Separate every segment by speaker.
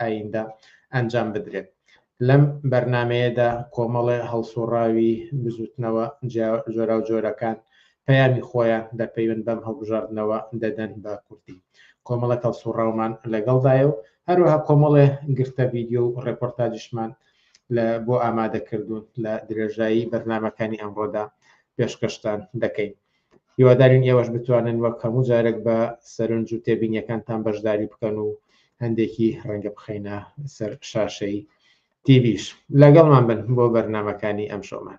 Speaker 1: ئایندە ئەنجام بدرێت. لەم بەرنامەیەدا کۆمەڵێ هەڵسوڕاوی بزوتنەوە جۆراوجۆرەکان پەیامی خۆیان لە پەیوەند بەم هەڵبژاردنەوە دەدەن بە کوردی. کۆمەڵێک هەڵسوڕاومان لەگەڵدایە و هەروەها کۆمەڵێ گرتە ڤیدیۆ و ڕێپۆرتاجیشمان لە بۆ ئامادەکردوون لە درێژایی بەرنمەکانی ئەمڕۆدا پێشکەشتان دەکەین. هیوادارین ئێوەش بتوانن وەک هەموو جارێک بە سەرنج و تێبینیەکانتان بەشداری بکەن و هەندێکی ڕەنگە بخەینە سەر شاشەی تیڤش لەگەڵمان بن بۆ بەرنمەکانی ئەم شۆمان.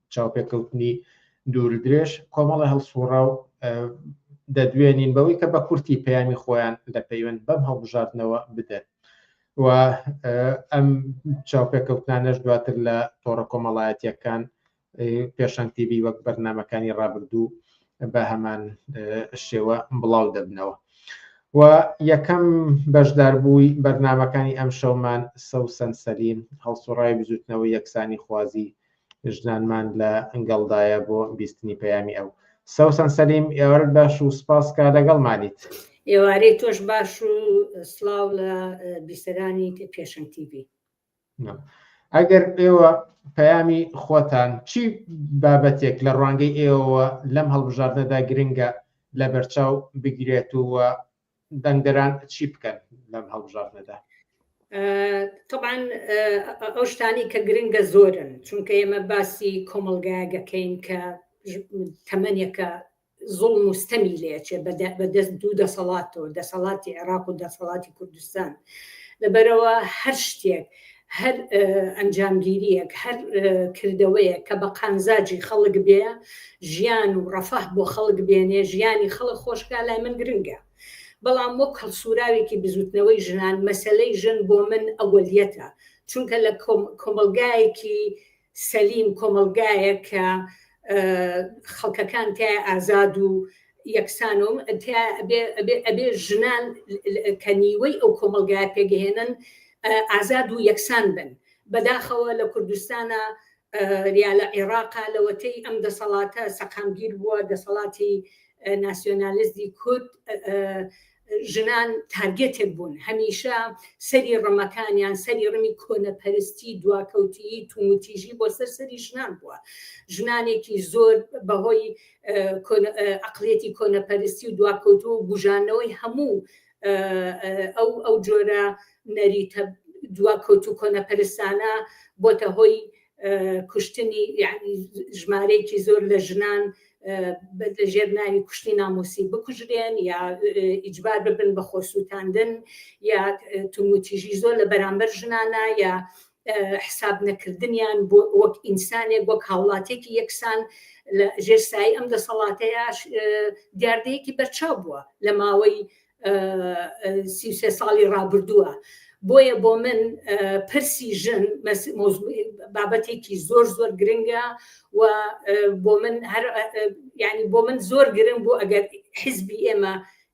Speaker 1: چاوپێکەوتنی دووردرێژ کۆمەڵە هەڵسوڕاو دەدوێنین بەوەی کە بە کورتی پەیامی خۆیان لە پەیوەند بەم هەڵبژاردنەوە بدەن و ئەم چاوپێکەوتانەش دواتر لە تۆڕە کۆمەڵایەتیەکان پێشەنگ تیبی وەک بەرنمەکانی ڕابردوو بە هەمان شێوە بڵاو دەبنەوە و یەکەم بەشداربووی بەرنمەکانی ئەم شەومان سەوسەن سەلیم هەڵسوڕای بزوتنەوە یەکسانی خوازی ژنانمان لە ئەنگەڵدایە بۆ بیستنی پەیامی ئەو سەوسان سەلیم ئێوارت باش و سپاس کا لەگەڵ مانیت ئێوارەی
Speaker 2: تۆش باش و سلااو لە بیسەرانی پێشنگ TV
Speaker 1: ئەگەر ئێوە پەیامی خۆتان چی بابەتێک لە ڕوانگەی ئێوە لەم هەڵبژاردنەدا گرنگە لە بەرچاو بگرێت و دەنگدەران چی بکەن لەم هەڵبژاردنەدا؟
Speaker 2: طبعاان ئەو شتانی کە گرنگە زۆرن چونکە ئێمە باسی کۆمەلگایەگەکەین کە تەمەنێکە زۆڵ مستەمی لێچێ بەدەست دوو دەسەڵاتەوە دەسەڵاتی عێراق و دەسەڵاتی کوردستان لەبەرەوە هەر شتێک هەر ئەنجامگیریەک هەر کردەوەیە کە بە قانزاجی خەڵک بێ ژیان و ڕەفاه بۆ خەڵک بێنێ ژیانی خەڵک خۆشکا لای من گرنگە بەڵام وەک هەڵسوراوێکی بزوتنەوەی ژنان مەسلەی ژن بۆ من ئەوەلیەتە چونکە لە کۆمەلگایەکی سەلیم، کۆمەڵگایەک کە خەڵکەکان تیایە ئازاد و یەکسان و ئەبێ ژنان کە نیوەی ئەو کۆمەلگایە پێگەهێنن ئازاد و یەکسان بن بەداخەوە لە کوردستانە یا لە عێراقا لەوەتەی ئەم دەسەڵاتە سەقامگیر بووە دەسەڵاتی ناسیۆنالیزمی کورد ژنان تارگێتێک بوون هەمیشە سەری ڕمەکانیان سەری ڕمی کۆنەپەرستی دواکەوتیی توموتیژی بۆ سەر سەری ژنان بووە ژنانێکی زۆر بەهۆی ئەقلێتی کۆنەپەرستی و دواکەوت و بژانەوەی هەموو ئەو ئەو جۆرە نەریتە دواکەوت و کۆنەپەرستانە بۆتە هۆی کوشتنی یعنی ژمارەیەکی زۆر لە ژنان لە ژێر ناوی کوشتی نامۆسی بکوژرێن یا ئیجبار ببن بە خۆسووتاندن یا توموتیژی زۆر لە بەرامبەر ژنانە یا حساب نەکردنیان بۆ وەک ئینسانێک وەک هاوڵاتێکی یەکسان لە ژێرسایی ئەم دەسەڵاتەیە دیاردەیەکی بەرچاو بووە لە ماوەی سی و سێ ساڵی ڕابردووە بۆیە بۆ من پرسی ژن بابەتێکی زۆر زۆر گرنگە و بۆ من هەر ینی بۆ من زۆر گرنگ بوو ئەگەر حزبی ئێمە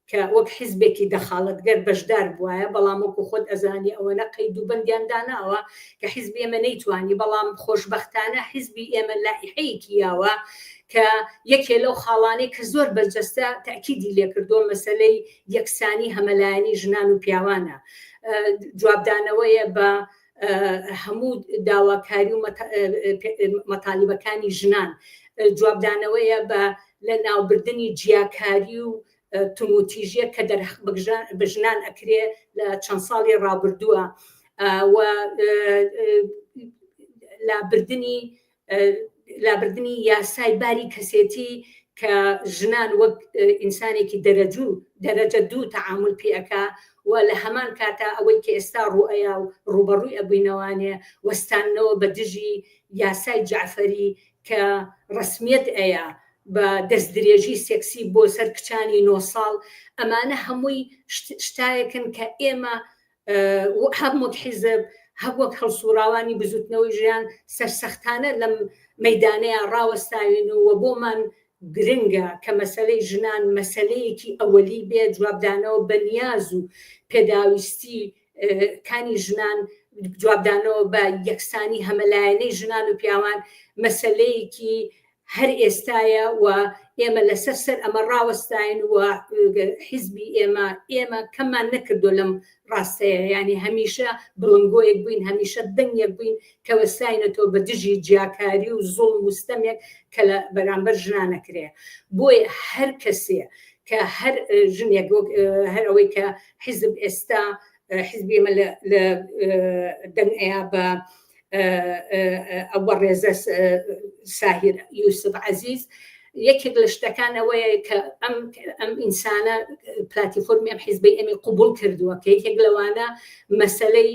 Speaker 2: کە وەک حزبێکی دەخاڵەتگەر بەشدار بواە بەڵام وەکو خۆت ئەزانی ئەوە نە قەید و بندیان داناوە کە حزبی ئێمە نەیتوانی بەڵام خۆشببختانە حزبی ئێمە لایحەیەکی یاوە کە یەکێ لەو خاڵانەی کە زۆر بەرجەستە تەئکیدی لێکردووە مەسەلەی یەکسانی هەمەلایەنی ژنان و پیاوانە جوابدانەوەیە بە هەموو داواکاری و مەتالیبەکانی ژنان جوابدانەوەیە بە لە ناوبردنی جیاکاری و تموتیژە کە دەر بە ژنان ئەکرێ لە چەند ساڵی ڕابردووە لابردنی لابردنی یاسای باری کەسێتی کە ژنان وەک ئینسانێکی دەرەجوو دەرەجە دوو تەعامل پێ ئەکا و لە هەمان کاتە ئەوەی کە ئێستا ڕوئەیا و ڕوبەڕووی ئەبووینەوانێ وەستانەوە بە دژی یاسای جعفەری کە ڕسمیت ئەیە بە دەست درێژی سێکسی بۆ سەر کچانی نۆ ساڵ ئەمانە هەمووی شتایەکن کە ئێمە هەر مت حیزب هەر وەک هەڵسوڕاوانی بزوتنەوەی ژیان سەرسەختانە لەم مەدانەیە ڕاوەستاوین و وە بۆمان گرنگە کە مەسەلەی ژنان مەسەلەیەکی ئەوەلی بێ جوابدانەوە بە نیاز و پێداویستی کانی ژنان جوابدانەوە بە یەکسانی هەمەلایەنەی ژنان و پیاوان مەسلەیەکی هەر ئێستایە و ئێمە لەسەر سەر ئەمە ڕاوەستاین و حیزبی ئێمە ئێمە کەممان نەکردو لەم ڕاستەیە یانی هەمیشە بڵنگۆیەک بووین هەمیشە دەنگێک بووین کەوەستاینەتۆ بە دژی جیاکاری و زۆڵ وستەمێک کە لە بەرامبەر ژنانەکرێ بۆیە هەر کەسێ کە هەر ژنێک هەر ئەوەی کە حیزب ئێستا حیزبی ئێمە لە دەنگ ئەیا بە ئەوە ڕێزە ساهر یوسف عزیز یەکێک لە شتەکان ئەوەیە کە ئەم ئەم ئینسانە پلاتی فۆرمی ئەم حیزبی ئەمی قوبول کردووە کە یەکێک لەوانە مەسلەی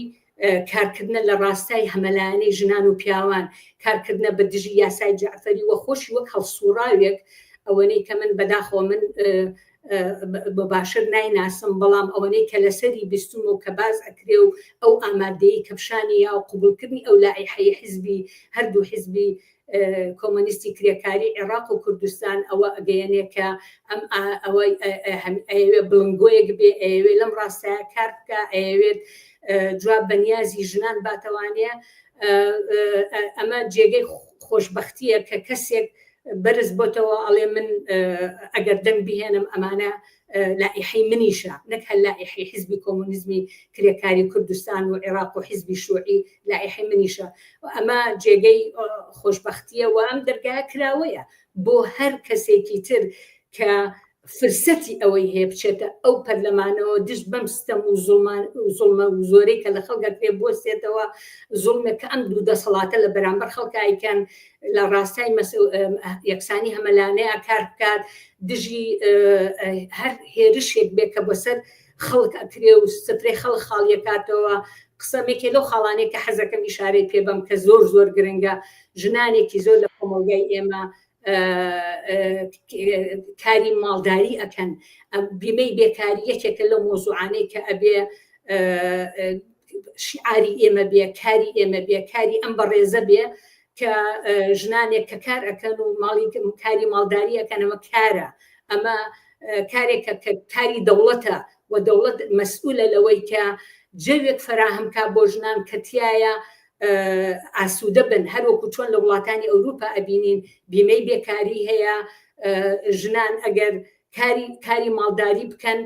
Speaker 2: کارکردنە لە ڕاستای هەمەلایانی ژنان و پیاوان کارکردنە بە دژی یاسای جعفەری وە خۆشی وەک هەڵسوڕاوێک ئەوەنەی کە من بەداخۆ من بە باشتر نایناسم بەڵام ئەوەنەی کە لەسەری بیستم و کە باز ئەکرێ و ئەو ئامادەی کەپشانی یا و قوبولکردنی ئەو لای حەی حزبی هەردوو حزبی کۆمەنیستی کرێکاری عێراق و کوردستان ئەوە ئەگەیەنێ کە ئەم ئەوەی ئەوێ بڵنگۆیەک بێ ئەوێ لەم ڕاستە کار بکە ئەوێت جواب بەنیازی ژنان باتەوانەیە ئەمە جێگەی خۆشببختیە کە کەسێک بەرز بۆتەوە ئەڵێ من ئەگەر دەنگ بهێنم ئەمانە لائیحەی منیشە نەک هەر لائیحەی حیزبی کۆمۆنیزمی کرێکاری کوردستان و عێراق و حیزبی شوعی لائیحەی منیشە و ئەمە جێگەی خۆشببختیە و ئەم دەرگایە کراوەیە بۆ هەر کەسێکی تر کە فرسەتی ئەوەی هەیە بچێتە ئەو پەرلەمانەوە دژ بەم ستەم و زڵمە و زۆرەی کە لە خەڵگە پێ بستێتەوە زڵمێک کە ئەم دوو دەسەڵاتە لە بەرامبەر خەڵکایکەن لە ڕاستای یەکسانی هەمەلانەیە کار بکات دژی هەر هێرشێک بێ کە بەسەر خەڵک ئەکرێ و سفرێ خەڵ خاڵیەکاتەوە قسەمێکێ لەو خاڵانێک کە حەزەکەم ئشارەی پێ بم کە زۆر زۆر گرنگە ژنانێکی زۆر لە کۆمەلگای ئێمە کاری ماڵداری ئەکەن بیمەی بێکاری یەکێکە لە مۆزوعانەی کە ئەبێ شعاری ئێمە بێ کاری ئێمە بێ کاری ئەم بەڕێزە بێ کە ژنانێک کە کار ئەەکەن و ماڵی کاری ماڵداری ئەەکەن ئەمە کارە ئەمە کارێکە کە کاری دەوڵەتە و دەوڵەت مەسئولە لەوەی کە جەوێک فراهمکە بۆ ژنان کەتیایە ئاسوودە بن هەروەکو چۆن لە وڵاتانی ئەوروپا ئەبینین بیمەی بێکاری هەیە ژنان ئەگەر کاری کاری ماڵداری بکەن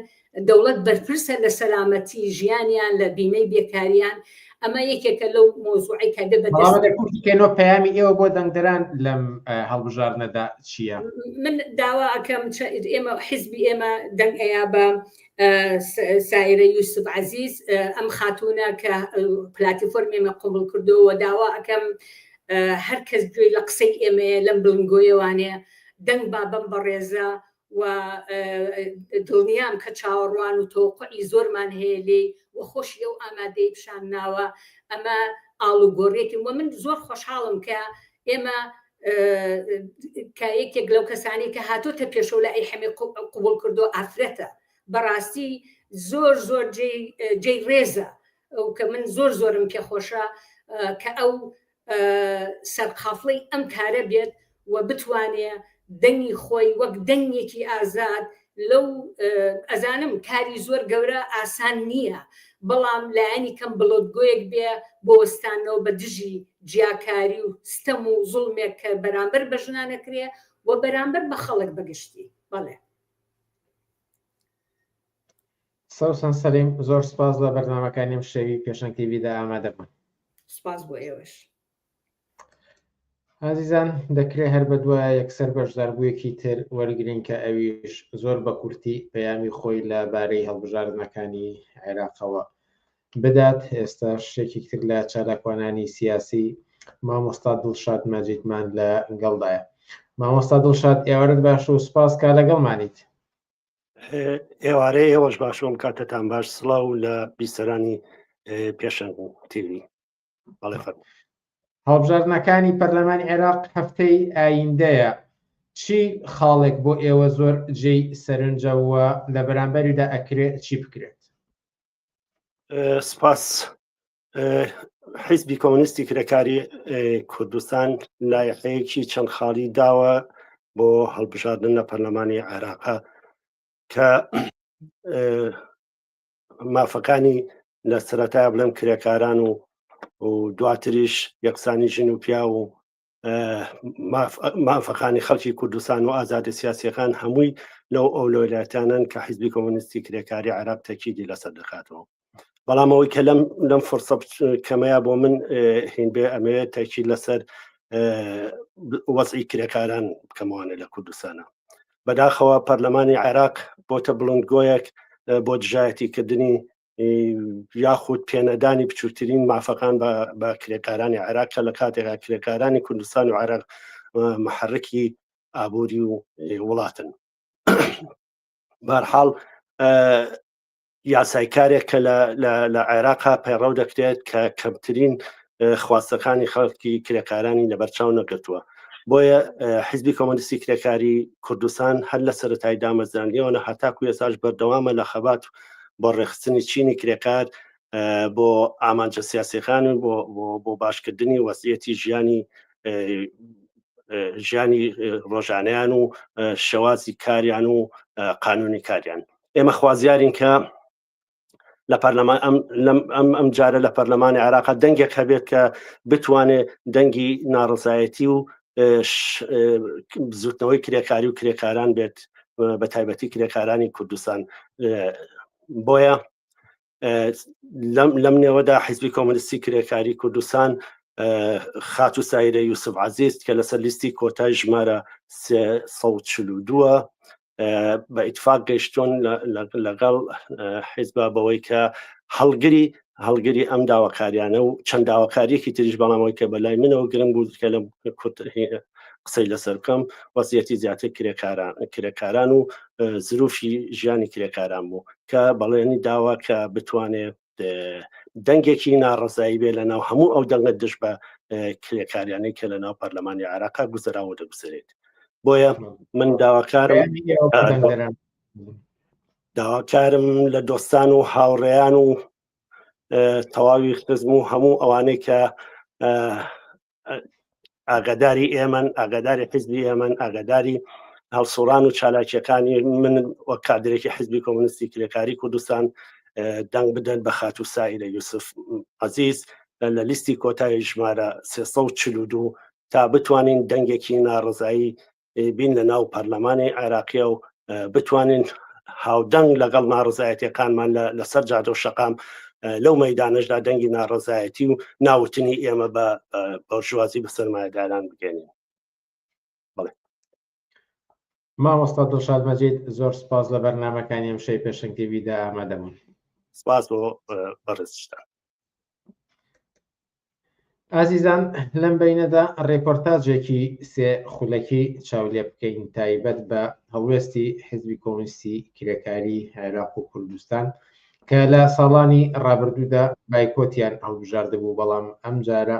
Speaker 2: دەوڵەت بەرپرسە لە سەلامەتی ژیانیان لە بیمەی بێکاریان ئەمە یەکێکە لەو مۆزوعی کە دە بەکەنەوە
Speaker 1: پامی ئێوە بۆ دەنگدران لەم هەڵبژاردنەدا چییە من داوا
Speaker 2: ئەەکەم ئێمە حیزبی ئێمە دەنگ ئەیا بە سایرە یوسف عزیز ئەم خاتونە کە پلاتیفۆرم ئێمە قوبڵ کردەوە داوا ئەەکەم هەر کەس گوێی لە قسەی ئێمەیە لەم بڵنگۆیەوانێ دەنگ با بەم بەڕێزە و دڵنیام کە چاوەڕوان و تۆقعی زۆرمان هەیە لێ و خۆشی ئەو ئامادەی پیشان ناوە ئەمە ئاڵوگۆڕێتی وە من زۆر خۆشحاڵم کە ئێمە کە یەکێک لەو کەسانی کە هاتۆتە پێشەوە لە ئەی حەمێ قوبڵ کردو ئافرەتە بەڕاستی زۆر زۆر جێی ڕێزە ئەو کە من زۆر زۆرم پێخۆشە کە ئەو سەرقافڵی ئەم کارە بێت و بتوانێ دەنگی خۆی وەک دەنگێکی ئازاد لەو ئەزانم کاری زۆر گەورە ئاسان نییە بەڵام لایەنی کەم بڵۆدگۆیەک بێ بۆ وەستانەوە بە دژی جیاکاری و ستەم و زوڵمێک کە بەرامبەر بە ژنانەکرێ و بەرامبەر بە خەڵک بەگشتی بەڵێ
Speaker 1: سەوسان سەلیم زۆر سپاس بە بەرنمەکانیم شەوی پێشەنگتیویدا ئامادەبن سپاس بۆ
Speaker 2: ئێوەش
Speaker 1: ئازیزان دەکرێت هەر بە دوایە یەکسەر بەشداربوویەکی تر وەرگین کە ئەویش زۆر بە کورتی پەیامی خۆی لە بارەی هەڵبژاردنەکانی عێراقەوە بدات ئێستا شتێکی تر لە چالاکوانانی سیاسی مامۆستا دڵشاد مەجیدمان لە گەڵدایە مامۆستا دڵشاد ئێوارت باش و سپاس کا لەگەڵمانیت ئێوارەیە
Speaker 3: ئێوەش باشۆم کاتتان باش سڵاو لە بیسەرانی پێشەنگ تیوی
Speaker 1: هەڵبژاردنەکانی پەرلەمان عێراق هەفتەی ئایندەیە چی خاڵێک بۆ ئێوە زۆر جێی سەرنجەوە لە بەرامبەریدا ئەکرێت چی بکرێت
Speaker 3: سپاس حیزبی کۆمنیستی کرێکاری کوردستان لایەقەیەکی چەند خاڵی داوە بۆ هەڵبژاردن لە پەرلەمانی عێراقا کە مافەکانی لە سەرەتا بڵێم کرێکاران و و دواتریش یەکسانی ژن و پیا و مافەکانی خەڵکی کوردستان و ئازادە سیاسەکان هەمووی لەو ئەو لۆلاتانن کە حیزبی کۆمونیستی کرێکاری عراق تەکیدی لەسەر دەکاتەوە بەڵام ئەوەی کە لەم لەم فرسە کەمەیە بۆ من هین بێ ئەمەوێت تەکی لەسەر وەزی کرێکاران بکەمەوانە لە کوردستانە بەداخەوە پەرلەمانی عێراق بۆتە بڵندگۆیەک بۆ دژایەتی کردنی یاخود پێنەدانی بچووترین مافەکان بە کرێکارانی عێراق کە لە کاتێکا کرێکارانی کوردستان و عێراق محرکی ئابووری و وڵاتن بارحاڵ یاسای کارێک کە لە عێراقا پەیڕەو دەکرێت کە کەمترین خواستەکانی خەڵکی کرێکارانی لەبەرچاو نەگرتووە بۆیە حیزبی کۆمەنیستی کرێکاری کوردستان هەر لە سەرەتای دامەزرانیەوەە هەتاکو ێساش بەردەوامە لە خەبات بۆ ڕێخستنی چینی کرێکار بۆ ئامانجە سیاسەکان و بۆ باشکردنی وەسیەتی ژیانی ژیانی ڕۆژانیان و شێوازی کاریان و قانونی کاریان ئێمە خوازیارین کە لە پەرلەمان ئەم ئەم جارە لە پەرلەمانی عراق دەنگێک هەبێت کە بتوانێت دەنگی ناڕزایەتی و بزوتنەوەی کرێکاری و کرێکاران بێت بە تایبەتی کرێکارانی کوردستان بۆیە لەم نێوەدا حیزبی کۆمەلیستی کرێکاری کوردستان خات و سایرە یوسف عزیز کە لەسەر لیستی کۆتای ژمارە 1940 بە ئیتفاق گەیشتون لەگەڵ حیزبا بەوەی کە هەڵگری هەڵگری ئەم داواکاریانە و چەند داواکاریەکی تریش بەڵامەوەی کە بەلای منەوە گرنگ بوو کە لە قسەی لەسەر بکەم وەسیەتی زیاتر کرێکاران کرێکاران و زروفی ژیانی کرێکاران بوو کە بەڵێنی داوا کە بتوانێت دەنگێکی ناڕزایی بێ لە ناو هەموو ئەو دەنگە دش بە کرێکاریانەی کە لە ناو پەرلەمانی عراقا گوزەراوە دەگوزرێت بۆیە من داواکارم داواکارم لە دۆستان و هاوڕێیان و تەواوی خزم و هەموو ئەوانەی کە ئاگاداری ئێمەن ئاگاداری حزبی ئێمەن ئاگاداری هەڵسوڕان و چالاکیەکانی من وەک کادرێکی حزبی کۆمنیستی کرێکاری کوردستان دەنگ بدەن بە خات و سایرە یوسف عزیز لە لیستی کۆتایی ژمارە 342 تا بتوانین دەنگێکی ناڕزایی بین لە ناو پەرلەمانی عێراقیە و بتوانین هاودەنگ لەگەڵ ناڕزایەتەکانمان لەسەر جادە و شەقام لەو مەدانشدا دەنگی ناڕزایەتی و ناوتنی ئێمە بە بەژوازی بە سەرمایەداران بگەێنین
Speaker 1: مامۆستا دڵشاد مەجید زۆر سپاس لە بەرنمەکانی ئەم شەی پێشنگتیویدا ئامادەبوون سپاس بۆ
Speaker 3: بەڕێزشتان
Speaker 1: ئازیزان لەم بینەدا ڕێپۆرتاجێکی سێ خولەکی چاولێ بکەین تایبەت بە هەڵوێستی حزبی کۆمستی کرێکاری عێراق و کوردستان کە لە ساڵانی ڕابردوودا بایکۆتیان هەڵبژاردبوو بەڵام ئەم جارە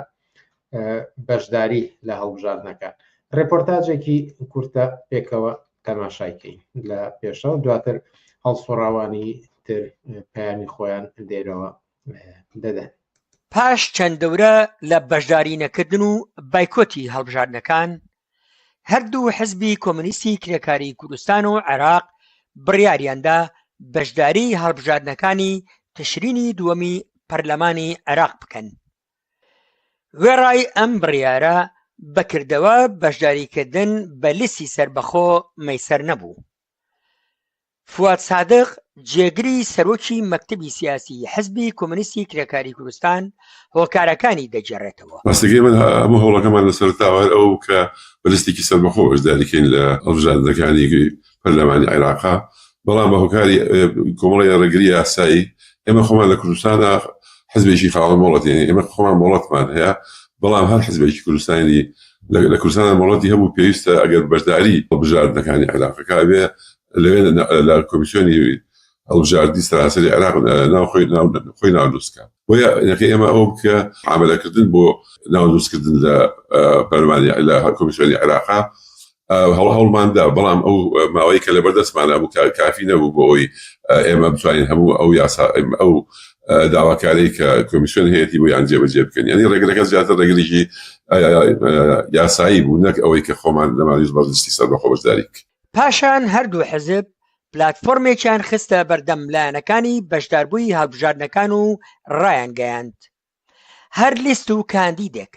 Speaker 1: بەشداری لە هەڵبژاردنەکان ڕێپۆرتاجێکی کورتە پێکەوە تەماشایکەین لە پێشە و دواتر هەڵسوڕاوانی تر پەیامی خۆیان دێرەوە دەدەن پاش
Speaker 4: چەند دەورە لە بەشداری نەکردن و بایکۆتی هەڵبژاردنەکان هەردوو حزبی کۆمنیستی کرێکاری کوردستان و عێراق بڕیاریاندا بەشداری هەڵبژاردنەکانی تشرینی دووەمی پەرلەمانی عێراق بکەن وێڕای ئەم بڕیارە بەکردەوە بەشداریکردن بە لیسی سربەخۆ مەسەر نەبوو فواد سادق، جێگری سەرۆکی مەکتەبی سیاسی حزبی کۆمۆنیستی کرێکاری کوردستان هۆکارەکانی دەگێڕێتەوە. ڕاستەکەی ئێمە هەموو
Speaker 5: هەوڵەکەمان لەسەرەتاوە هەر ئەوە بوو کە بە لستێکی سەربەخۆ بەشداری کەین لە هەڵبژاردنەکانی پەرلەمانی عێراق، بەڵام بە هۆکاری کۆمەڵێ ڕێگری ئاسایی ئێمە خۆمان لە کوردستانە حزبێکی خاوەن مۆڵەت یانی ئێمە خۆمان مۆڵەتمان هەیە بەڵام هەر حزبێکی کوردستانی لە کوردستانە مۆڵەتی هەبوو پێویستە ئەگەر بەشداری هەڵبژاردنەکانی عێراقەکە ئەبێ لەوێ لە کۆمیسیۆنی هەڵبژاردنی سەراسەری عێراق ناو خۆی ناو خۆی ناودروستکە بۆیە نەکە ئێمە ئەو بکە عملەکردن بۆ ناودروستکردن لە پەرمانی لە کۆمیسیۆنی عێراقا هەڵ هەڵماندا بەڵام ئەو ماوەی کە لە بەردەستمانە بوو کافی نەبوو بۆ ئەوی ئێمە بتوانین هەموو ئەو یاسا ئەو داواکاری کە کۆمیسیۆن هەیەی بۆ یان جێبەجێ بکەن ینی ڕێگرەکە زیاتر ڕێگریی یاسایی بوو نەک ئەوەی کە خۆمان لەمانیش بەرزستی سەر بە خۆبەشداریک پاشان هەردوو
Speaker 4: حزب پلاتفۆرمێکیان خستە بەردەم لایەنەکانی بەشداربووی هەڵبژاردنەکان و رایانگەیاند هەر لیست و کاندیدێک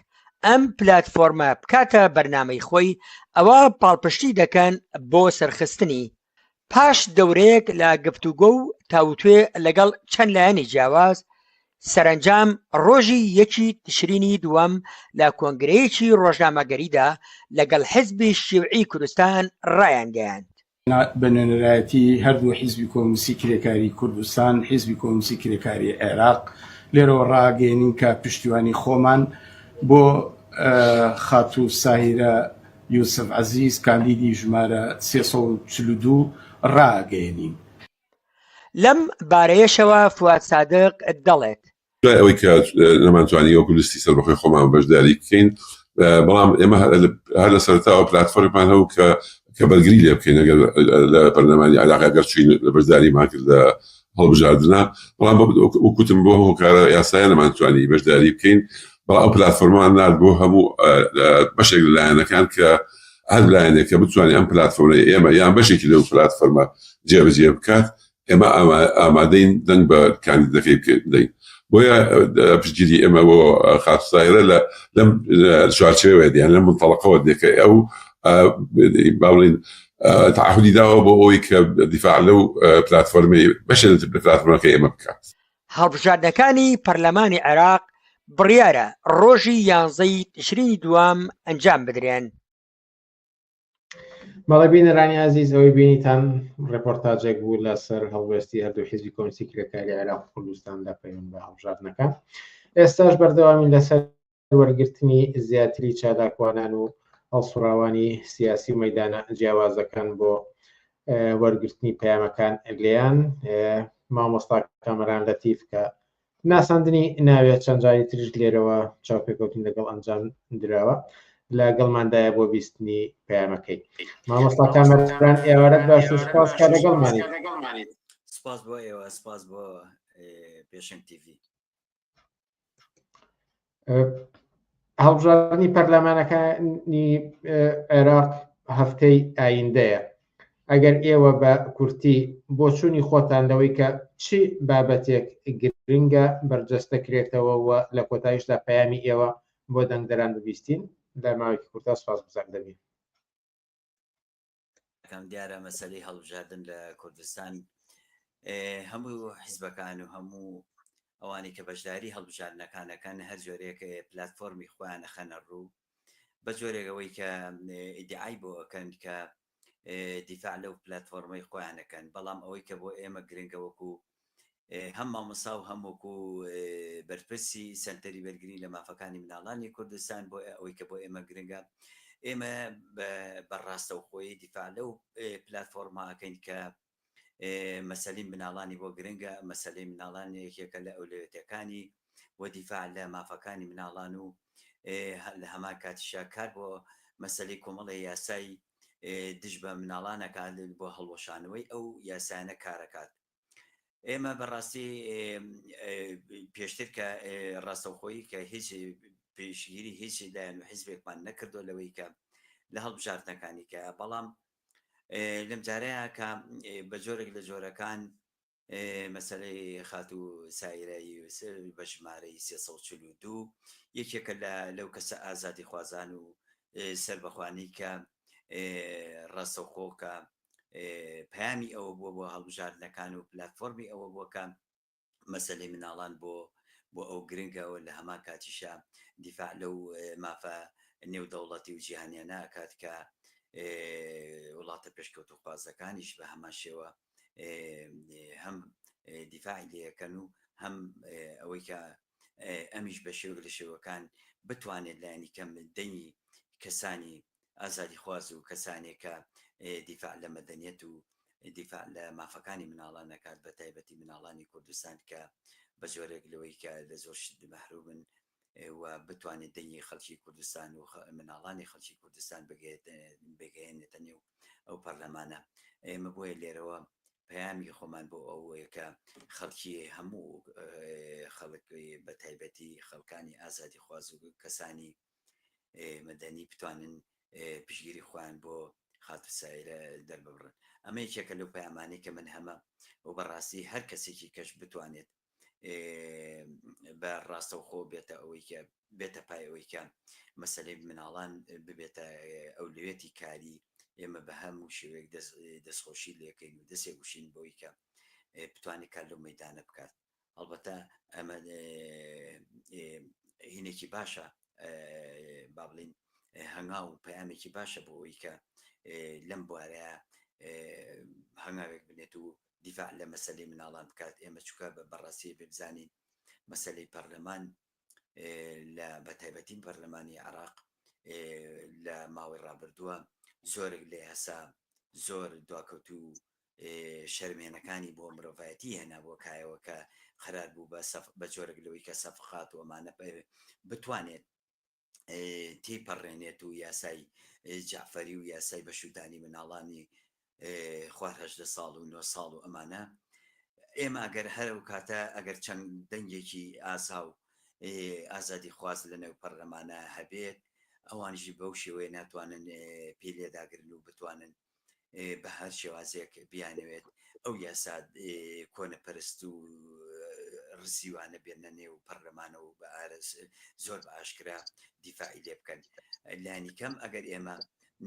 Speaker 4: ئەم پلاتفۆرمە بکاتە بەرنامەی خۆی ئەوا پاڵپشتی دەکەن بۆ سەرخستنی پاش دەورەیەک لە گفتوگۆ و تاوتوێ لەگەڵ چەند لایەنی جیاواز سەرەنجام ڕۆژی یەکی تشرینی دووەم لە کۆنگرەیەکی ڕۆژنامەگەریدا لەگەڵ حزبی شیوعی کوردستان ڕایانگەیاند، بە
Speaker 6: نوێنەرایەتی هەردوو حزبی کۆمونیستی کرێکاری کوردستان، حزبی کۆمونیستی کرێکاری عێراق لێرەوە ڕاگەیەنین کە پشتیوانی خۆمان بۆ خاتوو ساهیرە یوسف عەزیز کاندیدی ژمارە سێ سەد و چل و دوو ڕاگەیەنین.
Speaker 4: لەم بارەیەشەوە فواد سادق دەڵێت. دوای ئەوەی کە
Speaker 5: نەمانتوانی وەکو لیستی سەربەخۆی خۆمان بەشداری بکەین بەڵام ئێمە هەر لە سەرتاوە پلاتفۆرمان هەبوو کە کە بەرگری لێ بکەین ئەگەر لە پەرلەمانی عراق ئەگەر چوین لە بەشداریمان کرد لە هەڵبژاردنە بەڵام وکوتم بۆ هۆکارە یاسایە نەمانتوانی بەشداری بکەین بەڵام ئەو پلاتفۆرمان نرد بۆ هەموو بەشێک لە لایەنەکان کە هەر لایەنێک کە بتوانێت ئەم پلاتفۆرمەی ئێمە یان بەشێکی لەو پلاتفۆرمە جێبەجێ بکات ئێمە ئامادەین دەنگ بە کاندیدەکەی بدەین بۆیە پشتگیری ئێمە بۆ خاتسایرە لە لەم چوارچێوە دیان لەم منتەڵقەوە دێکە ئەو باڵین تعهدی داوە بۆ ئەوی کە دیفاع لەو پلاتفۆرمی بەشێت پلاتفۆرمەکە ئێمە بکات هەڵبژاردنەکانی
Speaker 4: پەرلەمانی عێراق بڕیارە ڕۆژی یانزەی تشرینی دووەم ئەنجام بدرێن.
Speaker 1: بەڵێ بینەرانی ئازیز ئەوەی بینیتان ڕێپۆرتاجێک بوو لەسەر هەڵوێستی هەردوو حیزبی کۆمسی کرێکاری عێراق کوردستان لە پەیوەند بە هەڵبژاردنەکە ئێستاش بەردەوامی لەسەر وەرگرتنی زیاتری چالاکوانان و هەڵسوڕاوانی سیاسی و مەیدانە جیاوازەکان بۆ وەرگرتنی پەیامەکان لێیان مامۆستا کامەران لەتیف کە ناساندنی ناوێت چەند جاری تریش لێرەوە چاوپێکەوتن لەگەڵ ئەنجام دراوە لە گەڵماندایە بۆ بیستنی پەیامەکەی مامۆستا کامەران ئێوارە باش و سپاس کە لەگەڵمانیت سپاس
Speaker 7: بۆ ئێوە سپاس بۆ پێشنگ تیڤی
Speaker 1: هەڵبژاردننی پەرلەمانەکانی عێراق هەفتەی ئایندەیە ئەگەر ئێوە بە کورتی بۆچوونی خۆتان لەوەی کە چی بابەتێک گرنگە بەرجەست دەکرێتەوە و لە کۆتایشدا پەیامی ئێوە بۆ دەنگدەران ببیستین لە ماوەیەکی کورتا سپاس بزار دەبین
Speaker 7: ئەکەم دیارە مەسەلەی هەڵبژاردن لە کوردستان هەموو حیزبەکان و هەموو ئەوانی کە بەشداری هەڵبژاردنەکانەکان هەر جۆرێک پلتفۆرمی خۆیان نەخەنە ڕوو بە جۆرێکەوەی کە ئیدعای بۆ ئەەکەن کە دیفاع لەو پلتفۆرمەی خۆیانەکەن بەڵام ئەوەی کە بۆ ئێمە گرنگەوەکو هەم مامۆستا و هەم وەکو بەرپرسی سەنتەری بەرگری لە مافەکانی مناڵانی کوردستان بۆ ئەوەی کە بۆ ئێمە گرنگە ئێمە بە ڕاستەوخۆی دیفاع لەو پلتفۆرماکەین کە مەسەلی مناڵانی بۆ گرنگە مەسلەی مناڵان یەکێکە لە ئەولەوێتەکانی و دیفاع لە مافەکانی مناڵان و لە هەمان کاتیشا کار بۆ مەسلی کۆمەڵی یاسایی دژ بە مناڵان ئەکات بۆ هەڵوەشانەوەی ئەو یاسایانە کارەکات ئێمە بەڕاستی پێشتر کە ڕاستەوخۆی کە هیچ پێشگیری هیچ لایەن و حیزبێکمان نەکردو لەوەی کە لە هەڵبژاردنەکانی کە بەڵام لەم جارەیە کە بە جۆرێک لە جۆرەکان مەسەلەی خاتوو سایرە یوسف بە ژمارەی سێ سەد و چل و دوو یەکێکە لە لەو کەسە ئازادیخوازان و سەربەخوانەی کە ڕاستەوخۆ کە پەیامی ئەوە بووە بۆ هەڵبژاردنەکان و پلاتفۆرمی ئەوە بووە کە مەسەلەی مناڵان بۆ بۆ ئەو گرنگەوە لە هەمان کاتیشە دیفاع لەو مافە نێودەوڵەتی و جیهانیانە ئەکات کە وڵاتە پێشکەوتوخوازەکانیش بە هەمان شێوە هەم دیفاعی لەکەن و هەم ئەوەی کە ئەمیش بە شێوک لە شێوەکان بتوانێت لایەنی کەم دەنگی کەسانی ئازادی خواز و کەسانێکە دیفاع لە مەدەنیەت و دیفاع لە مافەکانی مناڵان نەکات بە تایبەتی مناڵانی کوردستان کە بە زۆرێک لەوەی کە لە زۆر شت مەحرومن و بتوانێت دەنگی خەڵکی کوردستان و مناڵانی خەڵکی کوردستان بگەیەنێتە نێو ئەو پەرلەمانە ئێمە بۆیە لێرەوە پەیامی خۆمان بۆ ئەوەیە کە خەڵکی هەموو خەڵک بە تایبەتی خەڵکانی ئازادی خواز و کەسانی مەدەنی بتوانن پشگیری خۆیان بۆ خاتر سایرە دەرببڕن ئەمە یەکێکە لەو پەیامانەی کە من هەمە و بەڕاستی هەر کەسێکی کەش بتوانێت بە ڕاستەوخۆ بێتە ئەوەی کە بێتە پای ئەوەی کە مەسلەی مناڵان ببێتە ئەولوێتی کاری ئێمە بە هەموو شێوێک دەستخۆشی لەکەین و دەسێ گوشین بۆی کە بتوانێت کار لەو مەدانە بکات هەڵبەتە ئەمە هینێکی باشە با بڵین هەنگا و پەیامێکی باشە بۆ ئەوی کە لەم بوارەیە هەنگاوێک بنێت و دیفاع لە مەسەلەی مناڵان بکات ئێمە چونکە بە بەڕاستی ئەبێ بزانین مەسەلەی پەرلەمان لە بە تایبەتی پەرلەمانی عێراق لە ماوەی ڕابردووە زۆرێک لە یاسا زۆر دواکەوت و شەرمێنەکانی بۆ مرۆڤایەتی هێنا بۆ کایەوە کە قرار بوو بە بە جۆرەك لەوەی کە سەفقات ومانە بتوانێت تێپەڕێنێت و یاسای جعفەری و یاسای بەشودانی مناڵانی خوار هەژدە ساڵ و نۆ ساڵ و ئەمانە ئێمە ئەگەر هەرە و کاتە ئەگەر چەند دەنگێکی ئازا و ئازادی خواز لە نێو پەرلەمانە هەبێت ئەوانژی بەو شێوەیە ناتوانن پێ لێداگرن و بتوانن بە هەر شێوازێک بیانەوێت ئەو یاسا کۆنەپەرست و ڕزیوانە بێنە نێو پەرلەمانەوە بە ئارەس زۆر بە ئاشکرا دیفاعی لێ بکەن لانی کەم ئەگەر ئێمە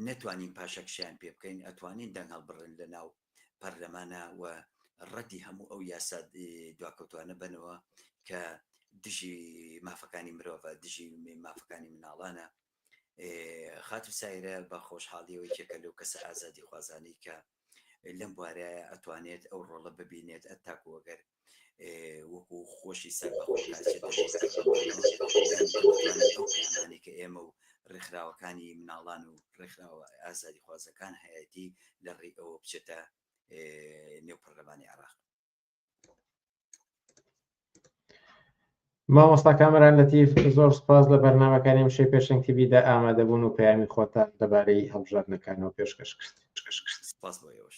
Speaker 7: نەتوانین پاشەکشیان پێ بکەین ئەتوانین دەنگ هەڵبڕن لە ناو پەرلەمانە و ڕەتی هەموو ئەو یاسا دواکەوتوانە بنەوە کە دژی مافەکانی مرۆڤە دژی مافەکانی مناڵانە خاتو سایرە بە خۆشحاڵیەوە یەکێکە لەو کەسە ئازادی خوازانەی کە لەم بوارەیە ئەتوانێت ئەو ڕۆڵە ببینێت ئەتاکو وەگەر وەکو خۆشی سەر بەخۆشیانی کە ئێمە و ڕێکخراوەکانی مناڵان و ڕێکخراوە ئازادی خوازەکان هەیەتی لە ڕێ ئەوە بچێتە نێو پەرلەمانی عراق
Speaker 1: مامۆستا کامەران لەتیف زۆر سپاس لە بەرنمەکانی ئەم شەی پێشنگ تیبیدا ئامادەبوون و پەیامی خۆتان دەبارەی هەڵبژاردنەکانەوە پێشکەش کرد سپاس بۆ
Speaker 7: ئێوەش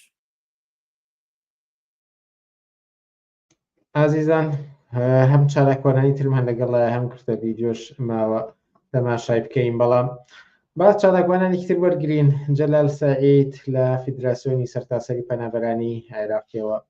Speaker 1: ئازیزان هەم چالاکوانانی ترمان لەگەڵ هەم کردە ویددیۆش ماوە تەماشای بکەین بەڵام با چالاکوانانی تر وەرگین جەلال سعید لە فیدراسیۆنی سەرتاسەری پەنابەرانی عێراقیەوە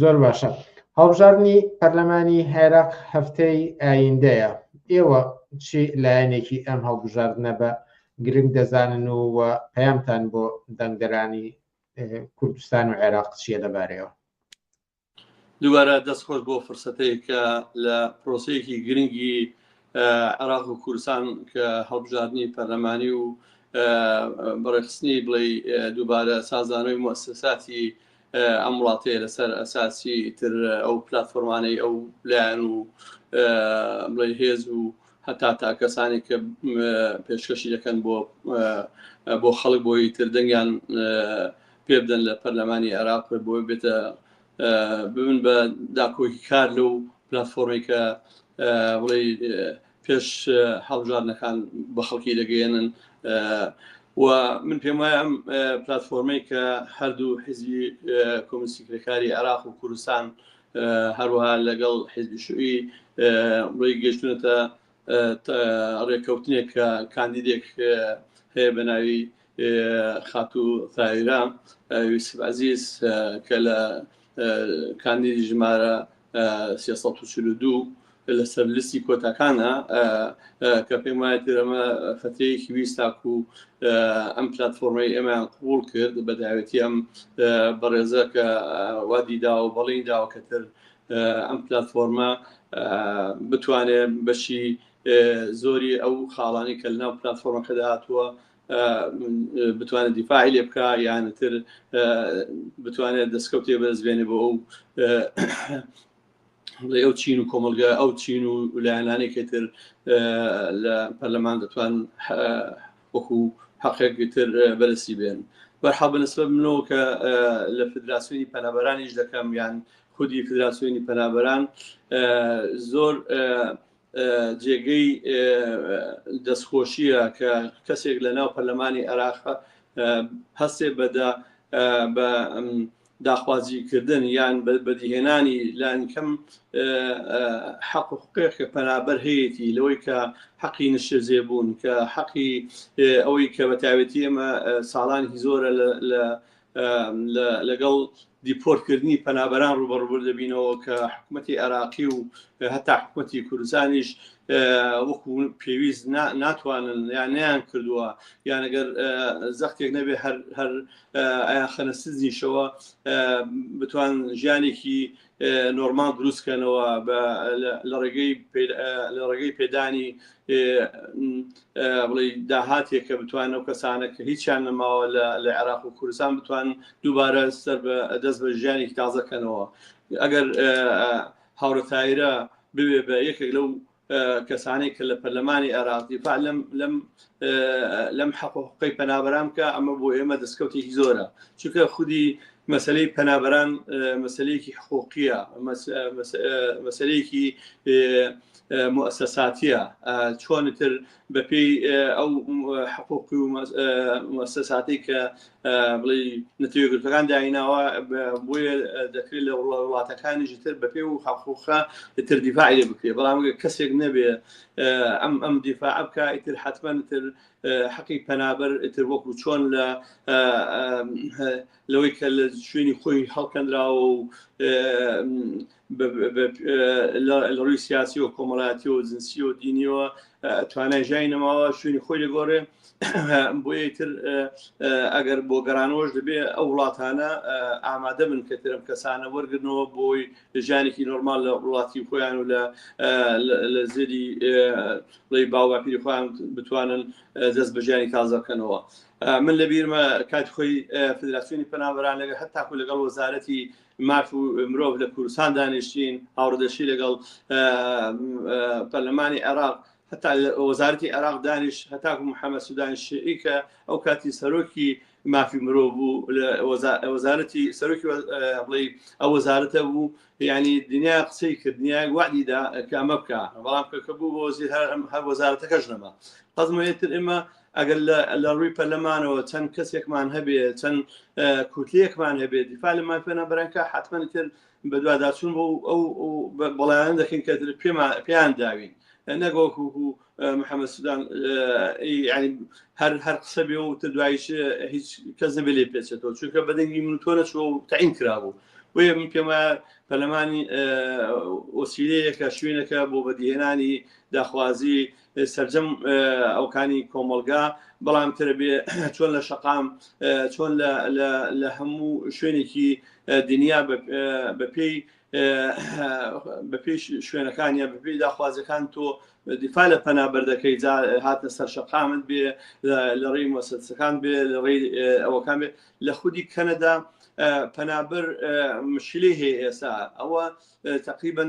Speaker 1: زۆر باشە هەڵبژاردنی پەرلەمانی عێراق هەفتەی ئایندەیە ئێوە چی لایەنێکی ئەم هەڵبژاردنە بە گرنگ دەزانن و و پەیامتان بۆ دەنگدەرانی کوردستان و عێراق چیە لەبارەیەوە
Speaker 8: دووارە دەست خۆش بۆ فرسەتەیە کە لە پرۆسەیەکی گرنگی عراق و کوردستان کە هەڵبژاردننی پەرلەمانی و بەڕێخستنی بڵێ دووبارە سازانەوەی مؤسساتی ئەم وڵاتەیە لەسەر ئەساسی تر ئەو پلاتفۆرمانەی ئەو لایەن و بڵێ هێز و هەتا تا کەسانی کە پێشکەشی دەکەن بۆ بۆ خەڵک بۆی تر دەنگیان پێ بدەن لە پەرلەمانی عێراق بۆ بێتە ببن بە داکۆکی کار لەو پلتفۆرمی کە بڵێ پێش هەڵبژاردنەکان بە خەڵکی دەگەیەنن و من پێم وایە ئەم پلتفۆرمەی کە هەردوو حزبی کۆمسی کرێکاری عراق و کوردستان هەروەها لەگەڵ حزبی شوعی ڕێی گەشتونەتە ڕێککەوتنێک کە کاندیدێک هەیە بە ناوی خاتوو تایرا یوسف عزیز کە لە کاندیدی ژمارە سێ سەد و چل و دوو لەسەر لستی کۆتاکانە کە پێم وایە تێرەمە فترەیەکی ویست تاکو و ئەم پلتفۆرمەی ئێمەیان قوڵ کرد بە داوێتی ئەم بەڕێزە کە وادی داوە بەڵین داوە کەتر ئەم پلتفۆرمە بتوانێت بەشی زۆری ئەو خاڵانی کە لەناو پلتفۆرمەکەدا هاتووە بتوانێت دیفاعی لێ بکە یانتر بتوانێت دەستکەوتێ بەرزبێنێ بۆ ئەو بڵێ ئەو چین و کۆمەلگە ئەو چین و لایەنانێکی تر لە پەرلەمان دەتوان وەکو حقێکی تر بەرسی بێن بەرحا بەنسبە منەوە کە لە فدراسیۆنی پەنابەرانیش دەکەم یان خودی فدراسیۆنی پەنابەران زۆر جێگەی دەستخۆشییە کە کەسێک لە ناو پەرلەمانی عێراقە هەستێ بەدا بە داخوازیکردن یان بەدیهێنانی لانکەم حەق و حقێک کە پەنابەر هەیەی لەوەی کە حەقی نشێزێ بوون کە حەقی ئەوەی کە بەتاوێتی ئێمە ساڵانی زۆرە لە لەگەڵ دیپۆرتکردنی پەنابەران ڕوبەڕوبر دەبینەوە کە حکوومەتی عێراقی و هەتا حکوومەتی کوردستانیش وەکو پێویست ناتوانن یان نیان کردووە یانەگەر زەختێک نەبێ هەر هەر ئایان خەنەسزیشەوە بتوان ژیانێکی نۆرماڵ دروست کەنەوە لە ڕێگەی پێدانی بڵی داهاتێک کە بتوان ئەو کەسانە کە هیچیان نەماوە لە عێراق و کوردستان بتوان دووبارە سەر بە دەست بە ژیانێکی تازەکەنەوە ئەگەر هاورە تایرە بوێ بە یەکێک لەو کەسانەی کە لە پەرلەمانی عێراق دیفاع لەم حەق و حقوقی پەنابەران بکە ئەمە بۆ ئێمە دەستکەوتێکی زۆرە چونکە خودی مەسلەی پەنابەران مەسلەیەکی حقوقیە مەسلەیەکی مؤسساتیە چۆنتر بە پێی ئەو حقوق و مەسەساتەی کە بڵی نەتەوە گرتەکان دایناوە بۆیە دەکرێت لە وڵاتەکانیش تر بە پێ و حقوقە تر دیفاعی لێ بکرێت بەڵام کەسێک نەبێ ئەم ئەم دیفاع بکە ئیتر حتمما تر حەقی پەنابەر ئیتر وەکو چۆن لە لەوەی کە لە شوێنی خۆی هەڵکەندراوە و لە ڕووی سیاسی و کۆمەڵاتی و جنسی و دینیەوە توانای ژای نەماوە شوێنی خۆی لەگۆڕێ بۆیە تر ئەگەر بۆ گەرانەوەش دەبێ ئەو وڵاتانە ئامادە من کە ترم کەسانە وەرگنەوە بۆی ژانێکی نۆرمال لە وڵاتی خۆیان و لە لە زێری ڵی باوباپیری خۆیان بتوانن دەست بەژیانی تازەکەنەوە. من لە بیرمە کات خۆی فدراسیۆنی پەنابران لەگە هەر تاکو لەگەڵ وەزارەتی ماف و مرۆڤ لە کوردستان دانیشتین هاوڕدەشی لەگەڵ پەرلەمانی عێراق هەتا وەزارتی عێراق دانیش هەتاکو محەممەد سودانی شعی کە ئەو کاتی سەرۆکی مافی مرۆڤ بوو لە وەزارەتی سەرۆکی بڵێ ئەو وەزارەتە بوو ینی دنیا قسەی کردنیای وادیدا کە ئەمە بکە بەڵام کەکە بوو بۆزی هەر هەر وەزارەتەکەش نەما قەزمەتر ئمە ئەگەر لە ڕووی پەرلەمانەوە چەند کەسێکمان هەبێ چەند کوتلەیەکمان هەبێت دیفاع لە مافە نابەرانکە حتممە تر بەدواداچون بۆ ئەو بەڵیان دەکەین کە تر پێمان پێیان داوین نەگۆک و محەممەد سودان هەر هەر قسە بێ و تر دوایش هیچ کەس نەبێ لێ پێچێتەوە چونکە بەدەنگی من تۆ نەچوە و تعین کرابوو بۆیە من پێم وایە پەرلەمانی ئۆسیلەیەکە شوێنەکە بۆ بەدیهێنانی داخوازی سەرجەم ئەوکانی کۆمەڵگا بەڵام ترە بێ چۆن لە شەقام چۆن لە هەموو شوێنێکی دنیا بەپێی بەپێش شوێنەکانیان بەپێی داخوازەکان تۆ دیفا لە پەنابەر دەکەی جا هاتە سەر شەقامت بێ لە ڕێی مۆسەسەکان بێ لە ڕێی ئەوەکان بێ لە خودی کەنەدا پەنابەر مشکلی هەیە ئێستا ئەوە تقریبا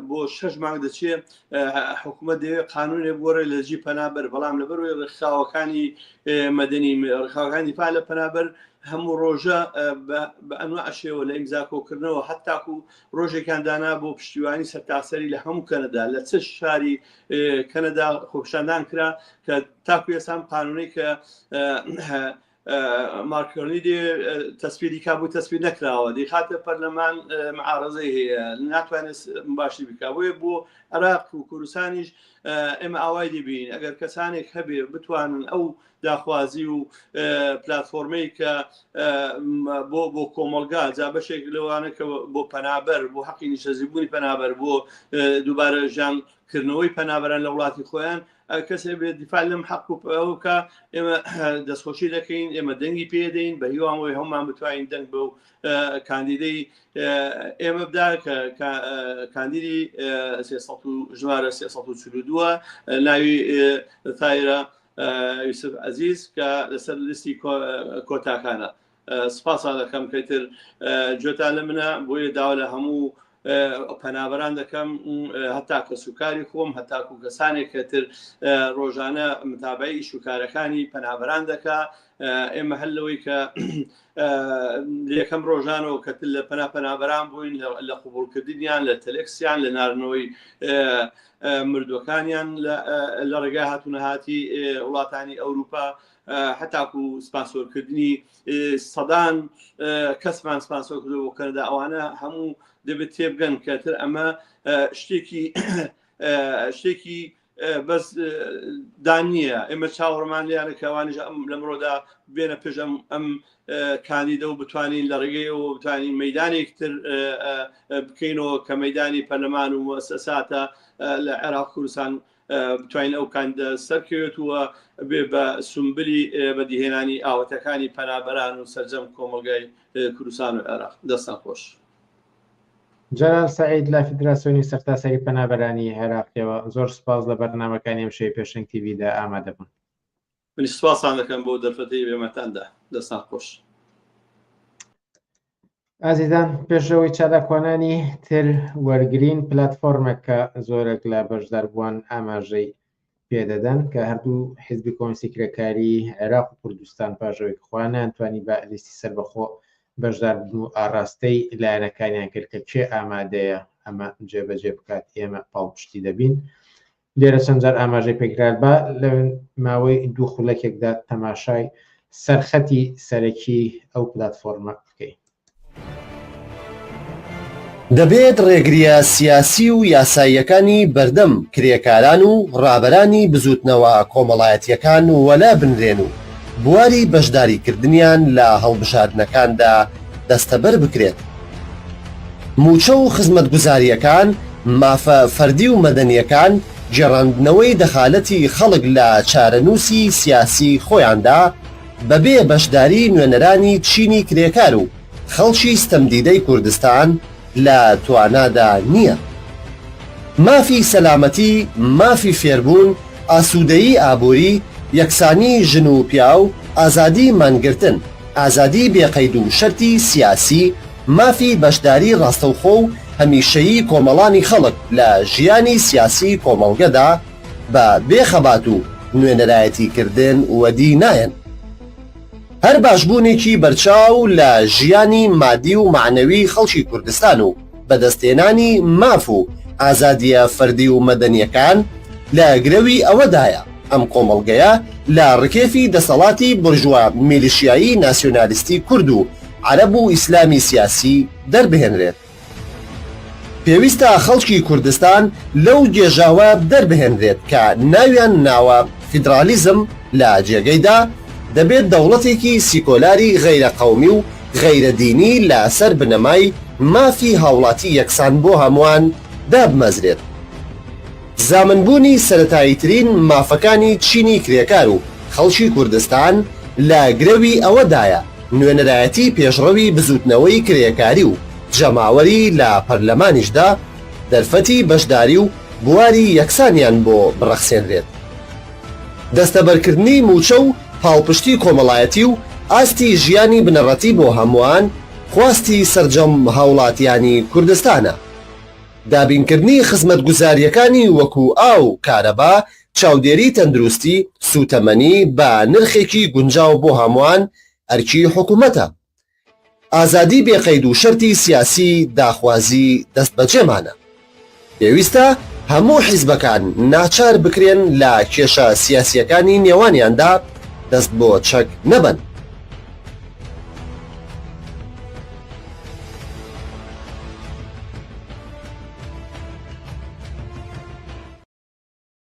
Speaker 8: بۆ شش مانگ دەچێ حکوومەت دەوێت قانونێ بۆرە لە جی پەنابەر بەڵام لە بەروی ڕخاوەکانی مەدەنی ڕخاوەکانی پا لە پەنابەر هەموو ڕۆژە بە ئەنوا ئەشێەوە لە ئیمزاکۆکردنەوە هەتاکو ڕۆژێکان دانا بۆ پشتیوانی سەرتاسەری لە هەموو کەنەدا لە چ شاری کەنەدا خۆپشاندان کرا کە تاکو ئێسان قانونی کە ماکرۆنی دێ تەسپیری کا بوو تەسپی نەکراوە دی خاتە پەرلەمان معارزەی هەیە ناتوانێت باشی بکە بۆیە بۆ عراق و کوردستانیش ئێمە ئاوای دەبین ئەگەر کەسانێک هەبێ بتوانن ئەو داخوازی و پلتفۆرمەی کە بۆ بۆ کۆمەلگا جا بەشێک لەوانە کە بۆ پەنابەر بۆ حەقی نیشەزیبوونی پەنابەر بۆ دووبارە ژیان کردنەوەی پەنابەران لە وڵاتی خۆیان کەسێ بێت دیفاع لەم حەق و پەوکە ئێمە دەستخۆشی دەکەین ئێمە دەنگی پێدەین بە هیوامەوەی هەمومان بتوانین دەنگ بە و کاندیدەی ئێمە بدا کە کاندیدی ژمارە 342 ناوی تایرە یوسف عزیز کە لەسەر لیستی کۆتاکانە سپاستان دەکەم پێتر جۆتان لە منە بۆیە داوا لە هەموو پەنابەران دەکەم هەتا کەس و کاری خۆم هەتاکو کەسانێک کەتر ڕۆژانە متابعی ئیش و کارەکانی پەنابەران دەکا ئێمە هەر لەوەی کە یەکەم ڕۆژانەوە کە لە پەنا پەنابەران بووین لە قوبولکردنیان لە تەلکسیان لە نارنەوەی مردوەکانیان لە ڕێگا هاتوونەهاتی وڵاتانی ئەوروپا هەتاکو سپاسۆرکردنی سەدان کەسمان سپاسۆر کردو بۆ کەنەدا ئەوانە هەموو دەبێت تێبگەن کەتر ئەمە شتێکی شتێکی بەس دانیە ئێمە چاوەڕمان لیانە کەوانش ئەم لەمڕۆدا بێنە پێش ئەم ئەم کاندیدە و بتوانین لە ڕێگەیەوە بتوانین مەدانێکتر بکەینەوە کە مەدانی پەرلەمان و مؤسساتە لە عێراق کوردستان بتوانین ئەو کاندیدە سەرکەوێت و بێ بە سومبلی بەدیهێنانی ئاوەتەکانی پەنابەران و سەرجەم کۆمەلگای کوردستان و عێراق دەستان خۆش.
Speaker 1: جەلال سەعید لە فیدراسیۆنی سەرتاسەری پەنابەرانی عێراقیەوە، زۆر سوپاس لە بەرنامەکانی ئەمشەوی پێشەنگ تیڤیدا ئامادەبوون.
Speaker 8: منیش سپاستان دەکەم
Speaker 1: بۆ دەرفەتەی بێمەتاندا دەستان خۆش ئازیزان پێشەوەی چالاکوانانی تر وەرگین پلتفۆرمێک کە زۆرێک لە بەشداربووان ئاماژەی پێدەدەن کە هەردوو حزبی کۆنسی کرێکاری عێراق و کوردستان پاژەوەی خوانیان توانی بە لیستی سربەخۆ بەشدار بن و ئاراستەی لایەنەکانیان کرد کە کێ ئامادەیە ئەمە جێبەجێ بکات ئێمە پاڵپشتی دەبین لێرە چەند جار ئاماژەی پێکرا، با لە ماوەی دوو خولەکێکدا تەماشای سەرخەتی سەرەکیی ئەو پلاتفۆرمە بکەین.
Speaker 9: دەبێت ڕێگرییە سیاسی و یاساییەکانی بەردەم کرێکاران و ڕابەرانی بزووتنەوە کۆمەڵایەتییەکان وەلا بنرێن و بواری بەشداریکردنیان لە هەڵبژاردنەکاندا دەستەبەر بکرێت، مووچە و خزمەتگوزارییەکان، مافە فەردی و مەدەنییەکان، گێڕاندنەوەی دەخالەتی خەڵک لە چارەنووسی سیاسیی خۆیاندا بەبێ بەشداریی نوێنەرانی چینی کرێکار و خەڵکی ستەمدیدەی کوردستان لە توانادا نییە. مافی سەلامەتی، مافی فێربوون، ئاسوودەیی ئابووری، یەکسانیی ژن و پیاو، ئازادیی مانگرتن. ئازادیی بێقەید و شەرتی سیاسی، مافی بەشداریی ڕاستەوخۆ و هەمیشەیی کۆمەڵانی خەڵک لە ژیانی سیاسیی کۆمەڵگەدا، بە بێ خەبات و نوێنەرایەتیکردن وەدی نایەن. هەر باشبوونێکی بەرچاو لە ژیانی مادی و مەعنەویی خەڵکی کوردستان و، بەدەستهێنانی ماف و ئازادییە فەردی و مەدەنییەکان لە گرەوی ئەوەدایە ئەم کۆمەڵگەیە لە ڕکێفی دەسەڵاتی بۆرژوا میلیشیایی ناسیۆنالیستی کورد و عەرەب و ئیسلامی سیاسی دەربهێنرێت. پێویستە خەڵکی کوردستان لەو گێژاوە دەربهێنرێت کە ناویان ناوە فیدرالیزم لە جێگەیدا دەبێت دەوڵەتێکی سیکۆلاری غەیرە قەومی و غەیرە دینی لە سەر بنەمای مافی هاوڵاتی یەکسان بۆ هەموان دابمەزرێت. زامن بوونی سەرەتاییترین مافەکانی چینی کرێکار و خەڵکی کوردستان لە گرەوی ئەوە دایە نوێنەرایەتی پێشڕەوی بزووتنەوەی کرێکاری و جەماوەری لە پەرلەمانیشدا دەرفەتی بەشداری و بواری یەکسانیان بۆ بڕەخسێنرێت. دەستەبەرکردنی مووچە و پاڵپشتی کۆمەڵایەتی و ئاستی ژیانی بنەڕەتی بۆ هەمووان خواستی سەرجەم هاوڵاتیانی کوردستانە. دابینکردنی خزمەتگوزارییەکانی وەکو ئاو، کارەبا، چاودێری تەندروستی، سووتەمەنی بە نرخێکی گونجاو بۆ هەمووان ئەرکی حکومەتە. ئازادی بێ قەید و شەرتی سیاسی داخوازی دەستبەجێمانە. پێویستە هەموو حیزبەکان ناچار بکرێن لە کێشە سیاسییەکانی نێوانیاندا دەست بۆ چەک نەبەن.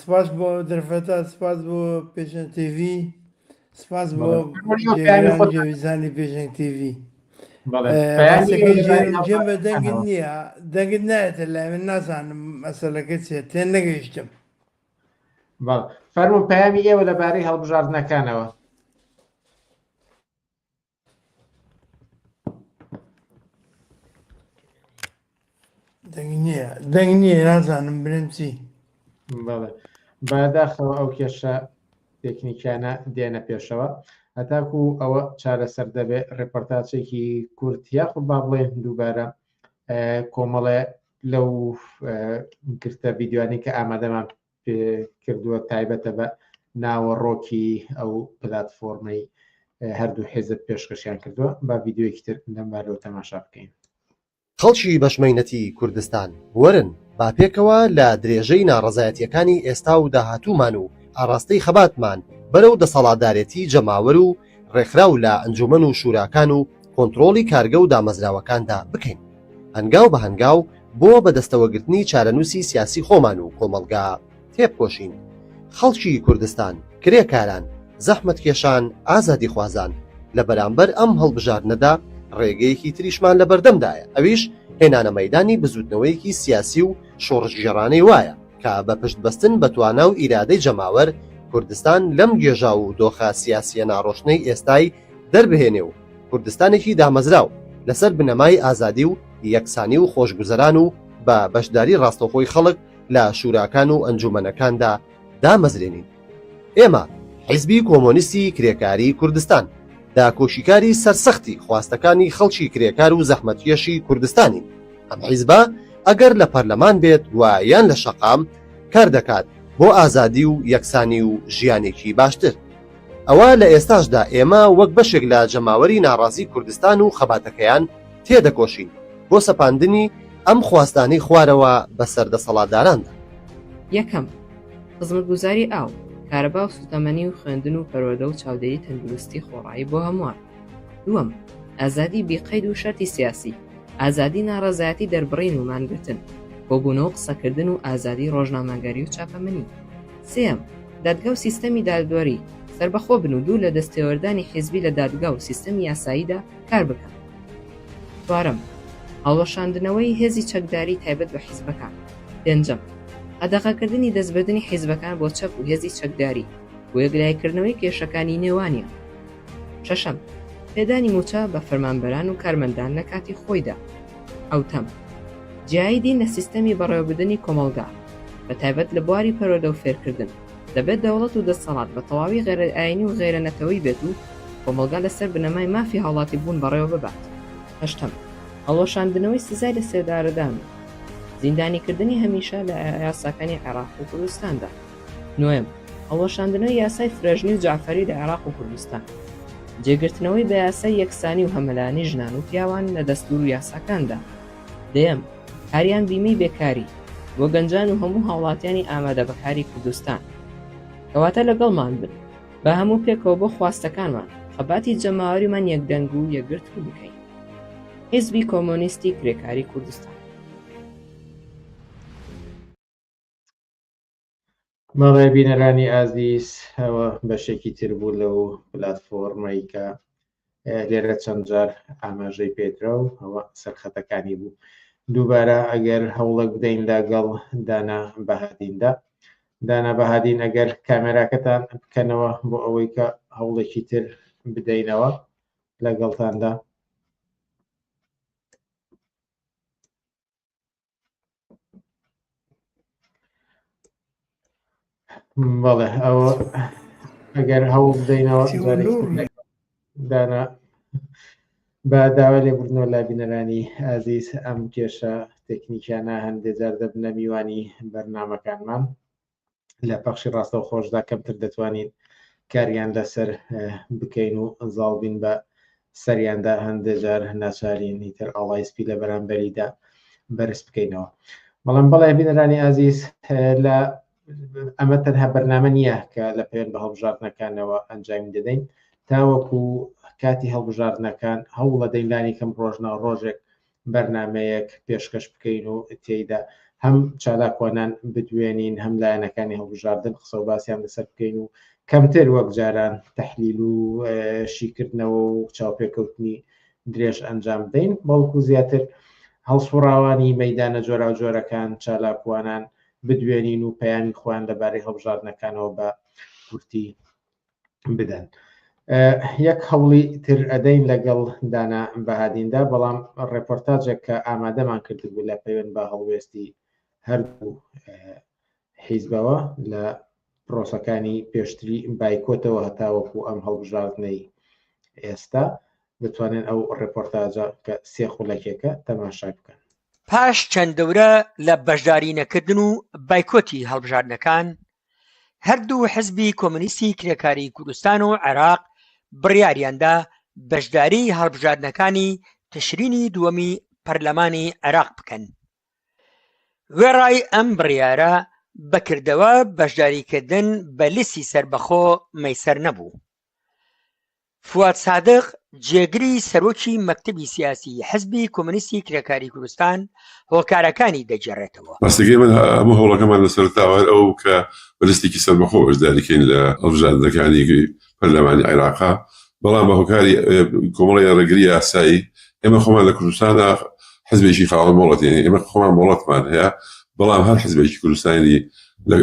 Speaker 10: سپاس بۆ دەرفەتە سپاس بۆ پێشەن تێوی سپاس بۆ جێویزانی پێشەنگ تێوی جێ بە دەنگت نییە دەنگت نایێتە لای من نازانم مەسەلەکە چێ تێ نەگەیشتم فەرمو
Speaker 1: پامی ئێوە لەبارەی هەڵبژاردنەکانەوە
Speaker 10: دەنگ نییە دەنگ نییە نازانم برم چی بەڵێ
Speaker 1: باداخەوە ئەو کێشە تەکنیکیانە دێنە پێشەوە هەتاکو ئەوە چارەسەر دەبێت ڕێپۆرتاچێکی کورت یاخ با بڵێن دووبارە کۆمەڵێ لەو گرتە ویددیوانی کە ئامادەمان کردووە تایبەتە بە ناوەڕۆکی ئەو پلتفۆرمەی هەردوو حێزت پێشکەشیان کردووە با یددیوەکی تر لەمبارەوە تەماشا بکەین. خەڵکی
Speaker 9: بەشمەینەتی کوردستان وەرن با پێکەوە لە درێژەی ناڕەزایەتیەکانی ئێستا و داهاتوومان و ئاڕاستەی خەباتمان بەرەو دەسەڵاتدارێتی جەماوەر و ڕێکخراو لە ئەنجومەن و شوراکان و کۆنتڕۆڵی کارگە و دامەزراوەکاندا بکەین هەنگاو بە هەنگاو بۆ بەدەستەوەگرتنی چارەنووسی سیاسی خۆمان و کۆمەڵگا تێبکۆشین خەڵکی کوردستان، کرێکاران، زەحمەتکێشان، ئازادیخوازان لە بەرامبەر ئەم هەڵبژاردنەدا ڕێگەیەکی تریشمان لە بەردەمدایە ئەویش هێنانە مەیدانی بزووتنەوەیەکی سیاسی و شۆڕشگێڕانەی وایە، کە بە پشت بەستن بە توانا و ئیرادەی جەماوەر، کوردستان لەم گێژاو و دۆخە سیاسییە ناڕۆشنەی ئێستای دەربهێنێ و کوردستانێکی دامەزراو لەسەر بنەمای ئازادی و یەکسانی و خۆشگوزەران و بە بەشداری ڕاستەوخۆی خەڵک لە شوراکان و ئەنجوومەنەکاندا دامەزرێنین. ئێمە، حیزبی کۆمۆنیستی کرێکاریی کوردستان، داکۆکیکاری سەرسەختی خواستەکانی خەڵکی کرێکار و زەحمەتکێشی کوردستانین. ئەم حیزبە ئەگەر لە پەرلەمان بێت و یان لە شەقام، کار دەکات بۆ ئازادی و یەکسانی و ژیانێکی باشتر. ئەوە لە ئێستاشدا ئێمە وەک بەشێک لە جەماوەری ناڕازی کوردستان و خەباتەکەیان تێدەکۆشین بۆ سەپاندنی ئەم خواستانەی خوارەوە بەسەر دەسەڵاتداراندا. یەکەم،
Speaker 11: خزمەتگوزاری ئاو، کارەبا و سوتەمەنی و خوێندن و پەروەردە و چاودێری تەندروستی خۆڕایی بۆ هەمووان. دووەم، ئازادی بی قەید و شەرتی سیاسی، ئازادی ناڕەزایەتی دەربڕین و مانگرتن، کۆبوونەوە و قسەکردن و ئازادی ڕۆژنامەگەری و چاپەمەنی. سێیەم، دادگا و سیستەمی دادوەری، سەربەخۆ بن و دوور لە دەستێوەردانی حیزبی لە دادگا و سیستەمی یاساییدا کار بکەن. چوارەم، هەڵوەشاندنەوەی هێزی چەکداری تایبەت بە حیزبەکان. پێنجەم، قەدەغەکردنی دەستبردنی حیزبەکان بۆ چەک و هێزی چەکداری بۆ یەکلاییکردنەوەی کێشەکانی نێوانیان. شەشەم، پێدانی مووچە بە فەرمانبەران و کارمەندان لە کاتی خۆیدا. حەوتەم، جیایی دین لە سیستەمی بەڕێوەبردنی کۆمەڵگا، بە تایبەت لە بواری پەروەردە و فێرکردن، دەبێت دەوڵەت و دەسەڵات بە تەواوی غەیرەئایینی و غەیرەنەتەوەیی بێت و کۆمەڵگا لەسەر بنەمای مافی هاوڵاتیبوون بەڕێوە ببات. هەشتەم، هەڵوەشاندنەوەی سزای لەسێدارەدان و. زیندانیکردنی هەمیشە لە یاساکانی عێراق و کوردستاندا. نۆیەم، هەڵوەشاندنەوەی یاسای فرەژنی و جەعفەری لە عێراق و کوردستان. جێگرتنەوەی بە یاسای یەکسانی و هەمەلایەنەی ژنان و پیاوان لە دەستوور و یاساکاندا. دەیەم، کاریان بیمەی بێکاری بۆ گەنجان و هەموو هاوڵاتیانی ئامادە بە کاری کوردستان. کەواتە لەگەڵمان بن، با هەموو پێکەوە بۆ خواستەکانمان خەباتی جەماوەریمان یەکدەنگ و یەکگرتوو بکەین. حیزبی کۆمۆنیستی کرێکاری کوردستان.
Speaker 1: مەڵێ بینەرانی ئازیز ئەوە بەشێکی تر بوو لەو پلتفۆرمەی کە لێرە چەند جار ئاماژەی پێدرا و ئەوە سەرخەتەکانی بوو دووبارە ئەگەر هەوڵک بدەین لەگەڵ دانا بەهادیندا دانا بەهادین ئەگەر کامێراکەتان بکەنەوە بۆ ئەوەی کە هەوڵێکی تر بدەینەوە لەگەڵتاندا بەڵێ ئەوە ئەگەر هەوڵ بدەینەوە دانا بە داوا لێبوردنەوە لا بینەرانی ئازیز ئەم کێشە تەکنیکیانە هەندێک جار دەبنە میوانی بەرنمەکانمان لە پەخشی ڕاستەو خۆشدا کەمتر دەتوانین کاریان لەسەر بکەین و ئەنزاڵ بین بە سەریاندا هەندێجار ناچارینی تر ئاڵای سپی لە بەرامبەریدا بەرز بکەینەوە بەڵام بەڵێ بینەرانی ئازیز لە ئەمە تەنها بەرنامە نییە کە لە پێێن بە هەڵبژاردنەکانەوە ئەنجامی دەدەین تاوەکو کاتی هەڵبژاردنەکان هەوڵە دەینلانی کەم ڕۆژنە ڕۆژێک بەرنامەیەک پێشکەش بکەین و تێیدا هەم چالاکوانان بدوێنین هەم لایەنەکانی هەڵبژاردن قسە و باسییان لەسەر بکەین و کەمتر وەک جاران تحلیل و شیکردنەوە و چاوپێکەوتنی درێژ ئەنجام بدەین بەڵکو زیاتر هەڵسوڕاوانی مەدانە جۆرا و جۆرەکان چالاکوانان بدوێنین و پەیامی خۆیان لەبارەی هەڵبژاردنەکانەوە بە کورتی بدەن یەک هەوڵی تر ئەدەین لەگەڵ دانا بەهادیندا بەڵام ڕێپۆرتاجێک کە ئامادەمان کردبوو لە پەیوەند بە هەڵوێستی هەردوو حیزبەوە لە پرۆسەکانی پێشتری بایکۆتەوە هەتاوەکو ئەم هەڵبژاردنەی ئێستا دەتوانێت ئەو ڕێپۆرتاجە کە سێ خولەکێکە تەماشا بکەن پاش چەند
Speaker 4: دەورە لە بەشداری نەکردن و بایکۆتی هەڵبژاردنەکان هەردوو حزبی کۆمۆنیستی کرێکاریی کوردستان و عێراق بڕیاریاندا بەشداریی هەڵبژاردنەکانی تشرینی دووەمی پەرلەمانی عێراق بکەن. وێڕای ئەم بڕیارە بەکردەوە بەشداریکردن بە لیستی سەربەخۆ مەیسەر نەبوو. فواد سادق، جێگری سەرۆکی مەکتەبی سیاسیی حزبی کۆمۆنیستی کرێکاریی کوردستان هۆکارەکانی دەگێڕێتەوە. ڕاستەکەی من هەموو
Speaker 5: هەوڵەکەمان لە سەرەتاوە هەر ئەوە بوو کە بە لستێکی سەربەخۆ بەشداری کەین لە هەڵبژاردنەکانی پەرلەمانی عێراق، بەڵام بە هۆکاری کۆمەڵێ ڕێگری یاسایی ئێمە خۆمان لە کوردستاندا حزبێکی خاوەن مۆڵەت یانی ئێمە خۆمان مۆڵەتمان هەیە، بەڵام هەر حزبێکی کوردستانی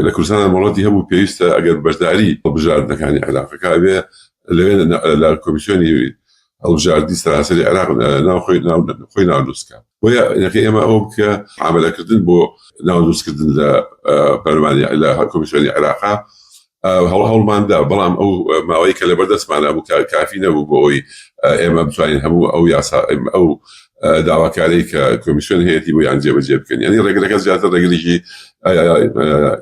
Speaker 5: لە کوردستاندا مۆڵەتی هەبوو پێویستە ئەگەر بەشداری هەڵبژاردنەکانی عێراقەکە ئەبێ لەوێ لە کۆمیسیۆنی هەڵبژاردنی سەراسەری عێراق ناوخۆی خۆی ناودروستکە بۆیە یەکە ئێمە ئەو بکە عملەکردن بۆ ناودروستکردن لە پەرمانی لە کۆمیسیۆنی عێراقا هەڵ هەڵماندا بەڵام ئەو ماوەی کە لە بەردەستمانە بوو کافی نەبوو بۆ ئەوی ئێمە بتوانین هەموو ئەو یاسا ئەو داواکاری کە کۆمیسیۆن هەیەی بۆ یان جێبەجێ بکەن ینی ڕێگرەکە زیاتر ڕێگریی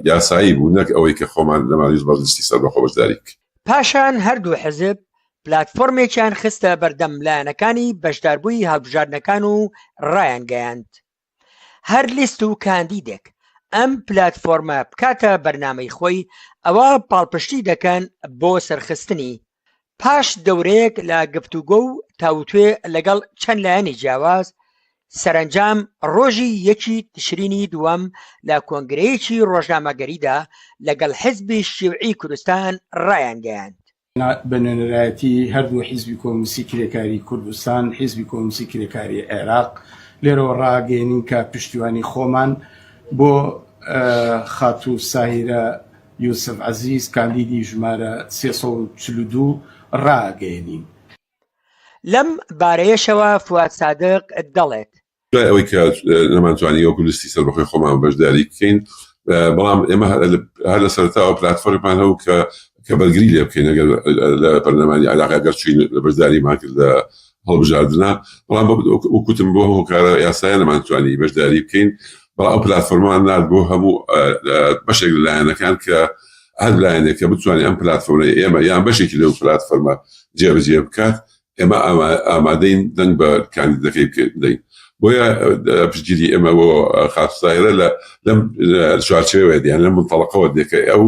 Speaker 5: یاسایی بوو نەک ئەوەی کە خۆمان لەمانیز بەرزستی سەر بەخۆ بەشداریک پاشان
Speaker 4: هەردوو حزب پلاتفۆرمێکیان خستە بەردەم لایەنەکانی بەشداربووی هەڵبژاردنەکان و ڕایانگەیاند هەر لیست و کاندیدێک ئەم پلاتفۆرمە بکاتە بەرنامەی خۆی ئەوا پاڵپشتی دەکەن بۆ سەرخستنی پاش دەورەیەک لە گفتوگۆ و تاوتوێ لەگەڵ چەند لایەنی جیاواز سەرەنجام ڕۆژی یەکی تشرینی دووەم لە کۆنگرەیەکی ڕۆژنامەگەریدا لەگەڵ حزبی شیوعی کوردستان ڕایانگەیاند، بە
Speaker 6: نوێنەرایەتی هەردوو حزبی کۆمونستی کرێکاری کوردستان، حزبی کۆمونستی کرێکاری عێراق لێرەوە ڕاگەیەنین کە پشتیوانی خۆمان بۆ خاتوو ساهیرە یوسف عەزیز کاندیدی ژمارە سێ سەد و چل و دوو ڕاگەیەنین.
Speaker 4: لەم بارەیەشەوە فواد سادق دەڵێت. دوای ئەوەی کە
Speaker 5: نەمانتوانی وەکو لیستی سەربەخۆی خۆمان بەشداری بکەین، بەڵام ئێمە هەر لە سەرەتاوە پلاتفۆرمێکمان هەبوو کە کە بەرگری لێ بکەین ئەگەر لە پەرلەمانی عێراق ئەگەر چووین بەشداریمان کرد لە هەڵبژاردنە، بەڵام وەکوتم بۆ هەموو کارە یاسایە نەمانتوانی بەشداری بکەین، بەڵام ئەو پلاتفۆرمەمان نارد بۆ هەموو بەشێک لە لایەنەکان کە هەر لایەنێک کە بتوانێت ئەم پلتفۆرمەی ئێمە یان بەشێکی لەو پلتفۆرمە جێبەجێ بکات ئێمە ئامادەین دەنگ بە کاندیدەکەی بدەین بۆیە پشتگیری ئێمە بۆ خاستایرە لە لەم چوارچەوە دیان لە منتەڵقەوە دێکە ئەو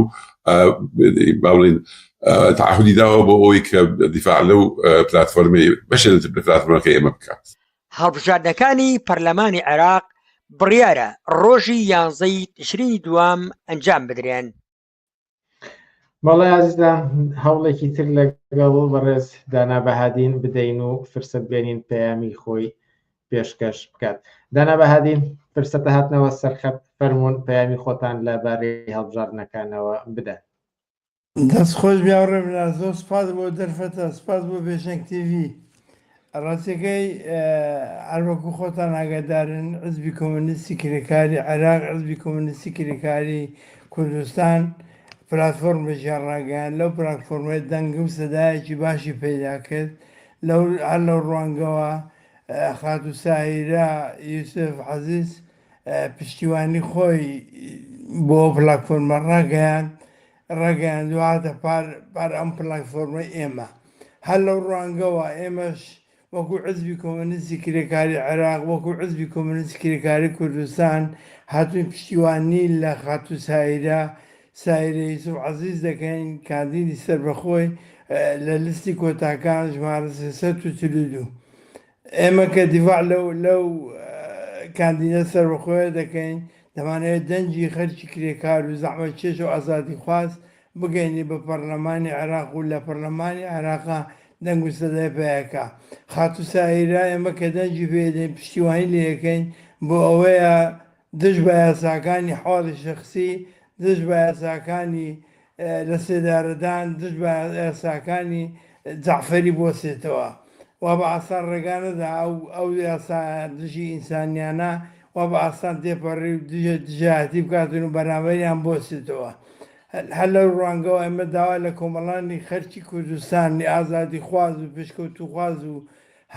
Speaker 5: باڵین تعهدی داوە بۆ ئەوی کە دیفاع لەو پلتفۆرمی بەشێت پلتفۆرمەکە ئێمە بکات هەڵبژاردنەکانی
Speaker 4: پەرلەمانی عێراق بڕیارە ڕۆژی یانزەی تشرینی دووەم ئەنجام بدرێن.
Speaker 1: بەڵێ ئازیزان هەوڵێکی تر لەگەڵ بەڕێز دانا بەهادین بدەین و فرسەت بێنین پەیامی خۆی پێشکەش بکات دانا بەهادین فرسەتە هاتنەوە سەرخەت فەرمونون پەیامی خۆتان لە بارەی هەڵبژاردنەکانەوە بدەن دەست
Speaker 10: خۆش بیاوڕێ بنا زۆر سپاس بۆ دەرفەتە سپاس بۆ پێشنگ تیوی ڕاستەکەی هەروەکو خۆتان ئاگادارن عزبی کۆمونیستی کرێکاری عێراق عزبی کۆمونیستی کرێکاری کوردستان پلتفۆرم بەژیان ڕاگەیان لەو پلتفۆرمەت دەنگ و سەدایەکی باشی پیدا کرد لەو هەر لەو ڕوانگەوە خاتو ساهیرە یوسف عزیز پشتیوانی خۆی بۆ پلاتفۆرمە ڕاگەیاند ڕاگەیان دواتە پار پار ئەم پلاتفۆرمە ئێمە هەر لەو ڕوانگەوە ئێمەش وەکو عزبی کۆمەنیستی کرێکاری عێراق وەکو عزبی کۆمەنیستی کرێکاری کوردستان هاتووی پشتیوانی لە خاتوو سایرە سایرە یوسف عەزیز دەکەین کاندیدی سەربەخۆی لە لیستی کۆتاکان ژمارە 342 ئێمە کە دیفاع لەو کاندیدە سەربەخۆیە دەکەین، دەمانەوێت دەنگی خەلکی کرێکار و زەحمەتکێش و ئازادیخواز بگەیەنین بە پەڕلەمانی عێراق و لە پەڕلەمانی عێراقا دەنگ و سەدای پەیاکا. خاتوو ساهیرا ئێمە کە دەنگی پێدەین، پشتیوانی لێدەکەین، بۆ ئەوەیە دژ بە یاساکانی حاڵی شەخسی، دژ بە یاساکانی لە سێدارەدان دژ بە یاساکانی جەعفەری بوەستێتەوە و بە ئاسان ڕێگا نەدا ئەو یاسا دژی ئینسانیانە وا بە ئاسان تێپەڕی و دژە دژایەتی بکاتن و بەرامبەریان بوەستێتەوە. هەر لەو ڕوانگەوە ئێمە داوا لە کۆمەڵانی خەرکی کوردستان، ئازادیخواز و پێشکەوتووخواز و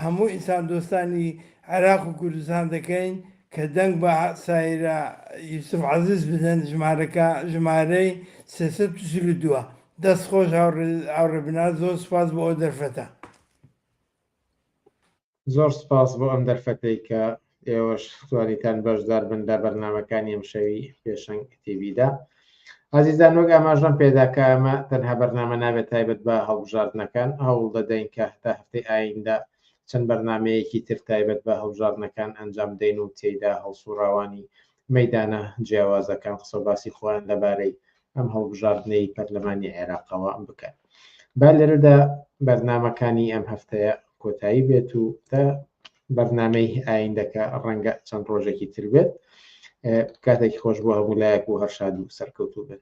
Speaker 10: هەموو ئینساندۆستانی عێراق و کوردستان دەکەین، کە دەنگ بە سایرە یوسف عەزیز بدەن ژمارەکە ژمارەی سێ سەد و چل و دوو ە. دەست خۆش هاوڕێ بناز زۆر سوپاس بۆ ئەو دەرفەتە.
Speaker 1: زۆر سوپاس بۆ ئەم دەرفەتەی کە ئێوەش توانیتان بەشدار بن لە بەرنامەکانی ئەمشەوی پێشەنگ تیڤیدا ئازیزان وەک ئاماژەم پێدا کە ئەمە تەنها بەرنامە نابێت تایبەت بە هەڵبژاردنەکان هەوڵ دەدەین کە هەتا هەفتەی ئایندە چەند بەرنامەیەکی تر تایبەت بە هەڵبژاردنەکان ئەنجام دەین و تێیدا هەڵسوڕاوانی مەیدانە جیاوازەکان قسە و باسی خۆیان لەبارەی ئەم هەڵبژاردنەی پەرلەمانی عێراقەوە بکەن. با لێرەدا بەرنامەکانی ئەم هەفتەیە کۆتایی بێت و تا بەرنامەی ئایندەکە ڕەنگە چەند ڕۆژێکی تر بێت کاتێکی خۆش بۆ هەموو لایەک و هەرشاد و سەرکەوتوو بن.